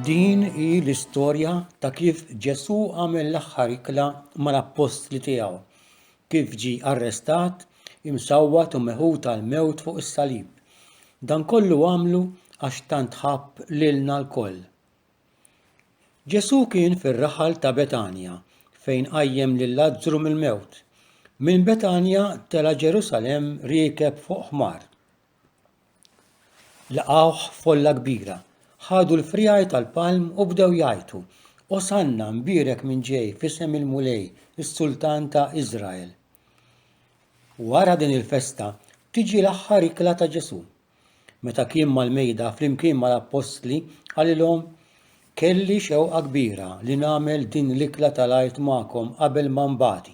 Din hi l-istorja ta' kif Ġesù għamel l-aħħar ikla mal-appostli tiegħu, kif ġi arrestat, imsawwat u meħud għal mewt fuq is-salib. Dan kollu għamlu għax tant ħabb lilna lkoll. Ġesù kien fir-raħal ta' Betanja fejn qajjem lil Lazzru mill-mewt. Minn Betanja tela' Ġerusalemm riekeb fuq ħmar. Laqgħuh folla kbira. Ħadu l-friegħi tal-palm u bdew jgħajtu, Osanna, mbierek min ġej f'isem il-Mulej, is-Sultan ta' Iżrael. Wara din il-festa tiġi l-aħħar ikla ta' Ġesù. Meta kien mal-mejda flimkien mal-appostli, qalilhom, Kelli xewqa kbira li nagħmel din l-ikla tal-għid magħkom qabel ma nbati.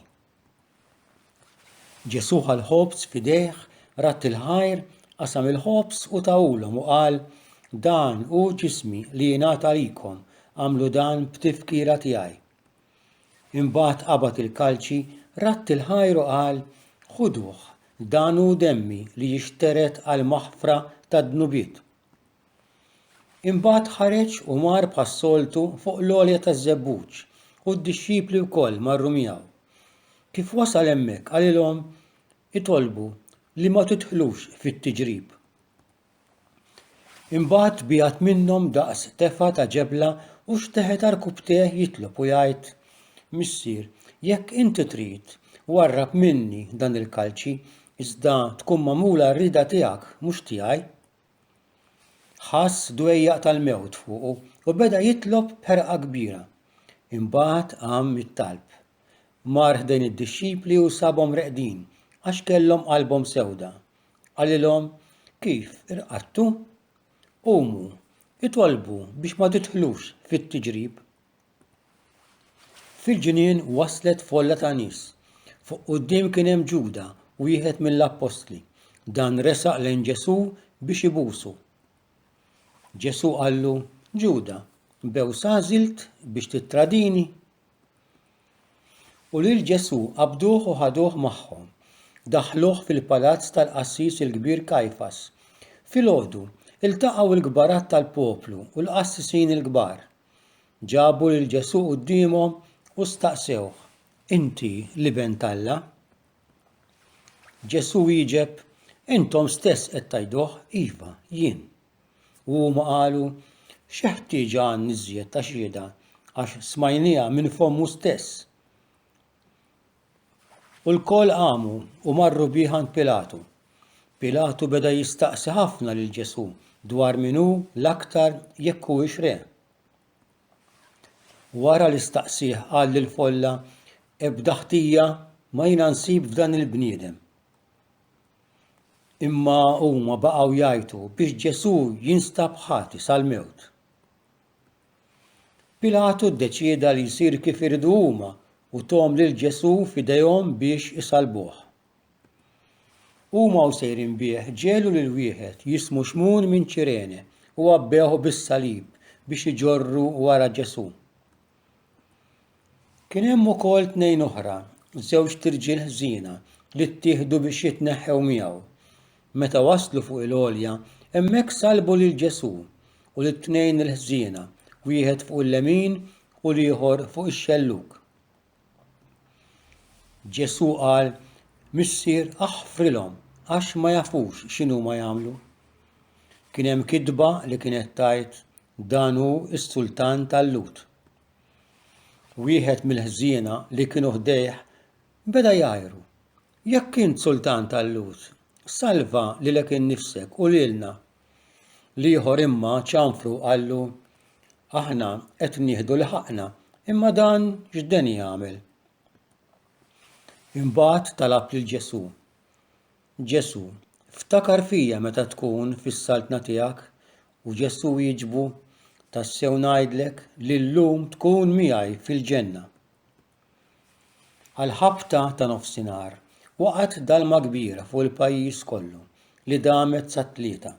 Ġesù ħa l-ħobż f'idejh, radd il-ħajr, qasam il-ħobż u tawulhom u qal, Dan hu ġismi li jingħata għalikom, għamlu dan b'tifkira tiegħi. Imbagħad qabad il-kalċi, radd il-ħajr u qal, Ħuduh, dan hu demmi li jixtered għall-maħfra tad-dnubiet. Imbagħad ħareġ u mar bħas-soltu fuq l-għolja taż-żebbuġ, u d-dixxipli wkoll marru miegħu. Kif wasal hemmhekk qalilhom, Itolbu li ma tidħlux fit-tiġrib. Imbagħad biegħed minnhom daqs tefgħa ta' ġebla u xteħet għal kubtejh jitlob u jgħid, Missier, jekk inti trid, warrab minni dan il-kalċi, iżda tkun magħmula r-rieda tiegħek, mhux tiegħi. Ħass dwejjaq tal-mewt fuqu u beda jitlob b'ħerqa kbira. Imbagħad qam mit-talb. Mar ħdejn id-dixxipli u sabhom reqdin, għax kellhom qalbhom sewda. Qalilhom, Kif irqadtu? Qumu, itolbu biex ma tidħlux fit-tiġrib. Fil-ġnien waslet folla ta' nies. Fuq quddiem kien hemm Ġuda, wieħed mill-appostli. Dan resaq lejn Ġesù biex ibusu. Ġesù qallu, Ġuda, bew sażilt biex tittradini? U lil Ġesù qabduh u ħaduh magħhom. Daħħluh fil-palazz tal-qassis il-kbir Kajfas. Filgħodu, iltaqgħu l-kbarat tal-poplu u l-qassisin il-kbar. Ġabu lil Ġesù quddiemhom u staqsewh, Inti l-Iben t'Alla? Ġesù wieġeb, Intom stess qed tgħiduh, iva, jien. U huma qalu, X'ħtieġa għandna iżjed ta' xhieda għax smajnieha minn fommu stess. U lkoll qamu u marru bih għand Pilatu. Pilatu beda jistaqsi ħafna lil Ġesù dwar min hu l-aktar jekk huwiex re. Wara li staqsih qal lill-folla ebda ħtija ma jiena nsib f'dan il-bniedem. Imma huma baqgħu jgħajtu biex Ġesù jinstab ħati sal-mewt. Pilatu ddeċieda li jsir kif iridu huma u tom lil Ġesù f'idejhom biex isalbuh. Huma u sejrin bih ġelu lil wieħed jismu Xmun minn Ċirene u għabbewh bis-salib biex iġorru wara Ġesù. Kien hemm ukoll tnejn oħra, żewġt irġiel ħżiena li ttieħdu biex jitneħħew miegħu. Meta waslu fuq il-għolja, hemmhekk salbu lil Ġesù u lit-tnejn il-ħżiena, wieħed fuq il-lemin u l-ieħor fuq ix-xellug. Ġesù qal, Missier, aħfrilhom, għax ma jafux x'inhuma jagħmlu. Kien hemm kitba li kienet tgħid, Dan hu s-sultan tal-Lhud. Wieħed mill-ħżiena li kienu ħdejh beda jgħajru, Jekk int sultan tal-Lhud, salva lilek innifsek u lilna! L-ieħor imma ċanfru u qallu, Aħna qed nieħdu li ħaqqna, imma dan x'deni jagħmel? Imbagħad talab lil Ġesù. Ġesù, ftakar fija meta tkun fis-Saltna tiegħek u Ġesù wieġbu, Tassew ngħidlek li llum tkun miegħi fil-Ġenna. Għall-ħabta ta' nofsinhar, waqgħet dalma kbira fuq il-pajjiż kollu li damet sat-tlieta.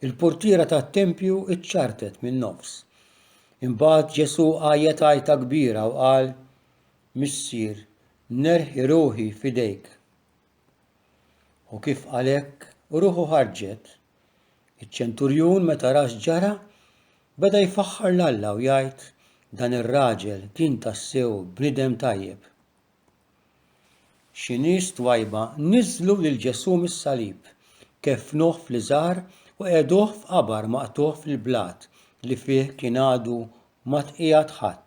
Il-purtiera tat-tempju ċċartet min-nofs. Imbagħad Ġesù għajjet għajta kbira u qal, Missier, nerħi ruħi f'idejk. U kif għalhekk ruħu ħarġet, iċ-ċenturjun meta ra x'ġara, beda jfaħħar 'l Alla u jgħid, Dan ir-raġel kien tassew bniedem tajjeb. Xi nies twajba niżżlu lil Ġesù mis-salib, keffnuh fl-iżgħar u qegħduh f'qabar maqtugħ fil-blat li fih kien għadu ma tqiegħed ħadd.